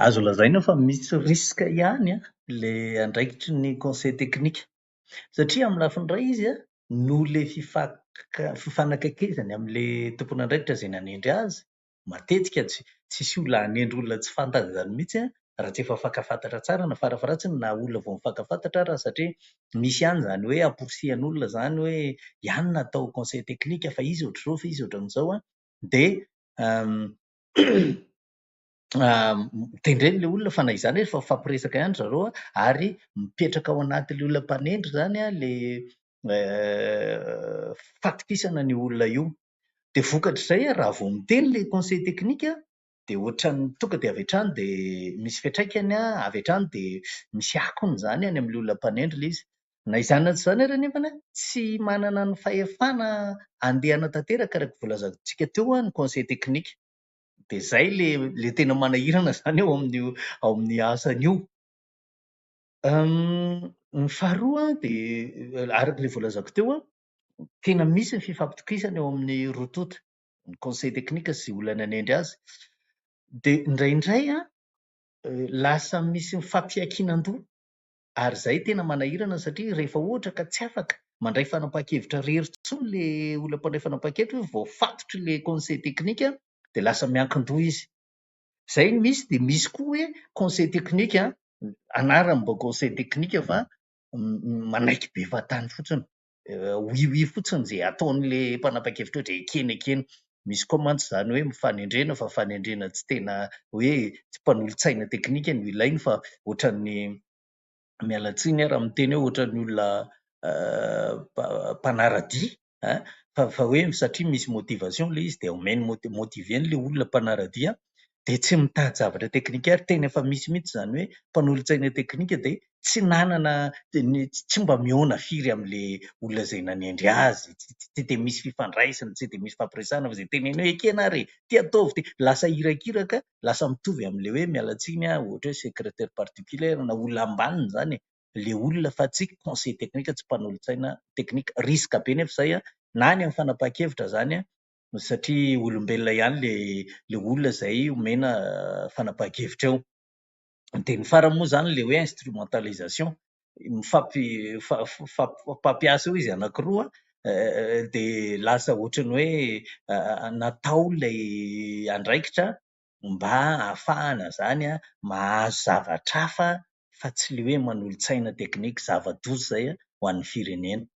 Azo lazaina fa misy risque ihany ilay andraikitry ny conseil technique satria amin'ny lafiny iray izy an, noho ilay fifanakaikezany amin'ilay tompon'andraikitra izay nanendry azy, matetika tsisy olona hanendry olona tsy fantany izany mihitsy an, raha tsy efa fankafantatra tsara na farafaharatsiny na olona vao mifankafantatra ary satria misy ihany izany hoe amporisihan'olona izany hoe ianona atao conseil technique fa izy ohatr'izao fa izy ohatran'izao an, dia tendreny ilay olona fa na izany ary efa mifampiresaka ihany ry zareo an, ary mipetraka ao anatin'ilay olona mpanendry izany ilay fahatokisana an'io olona io. Dia vokatr'izay raha vao miteny ilay conseil technique dia ohatran'ny tonga dia avy hatrany dia misy fiantraikany an, avy hatrany dia misy akony izany any amin'ilay olona mpanendry ilay izy. Na izany na tsy izany ary anefa, tsy manana ny fahefana handehana tanteraka araka ny voalazantsika teo ny conseil technique. Dia izay ilay ilay tena manahirana izany ao amin'io ao amin'ny asany io. Ny faharoa dia araka ilay voalazako teo, tena misy ny fifampitokisana eo amin'ny roa tonta, ny conseil technique sy izay olona nanendry azy. Dia indraindray an, lasa misy fifampiankinan-doha. ary izay tena manahirana satria rehefa ohatra ka tsy afaka mandray fanapahan-kevitra rery intsony le olona mpandray fanapahan-kevitra hoe voafatotry le conseil technique dia lasa miankin-doha izy. Izay no misy dia misy koa hoe conseil technique an, anaram-baovao conseil technique fa manaiky be fahatany fotsiny. oui oui fotsiny izay ataon'ilay mpanapa-kevitra ohatra ekeny ekeny. Misy koa mantsy izany hoe mifanendrena fa fanendrena tsy tena hoe tsy mpanolotsaina teknika no ilainy fa ohatran'ny, miala tsiny aho raha miteny hoe ohatran'ny olona mpanara-dia an, fa fa hoe satria misy motivation ilay izy dia omeny motiver an'ilay olona mpanara-dia an, dia tsy mitady zavatra teknika ary tena efa misy mihitsy izany hoe mpanolotsaina teknika dia tsy nanana tsy mba mihaona firy amin'ilay olona izay nanendry azy, tsy dia misy fifandraisana, tsy dia misy hifampiresahana fa izay teneniny hoe ekena ary e, ity ataovy ity, lasa irakiraka, lasa mitovy amin'ilay hoe miala tsiny aho ohatra hoe secrétaire particulier na olona ambaniny izany e, ilay olona fa tsy conseil teknika, tsy mpanolotsaina teknika, risque be nefa izay na any amin'ny fanapahan-kevitra izany an, satria olombelona ihany le le olona izay omena fanapahan-kevitra eo. Dia ny farany moa izany ilay hoe instrumentalisation, mifampi- fa- fa- fa- mifampiasa eo izy anankiroa dia lasa ohatran'ny hoe natao ilay andraikitra mba hahafahana izany mahazo zavatra hafa fa tsy le hoe manolo-tsaina teknika, zava-doza izay ho an'ny firenena.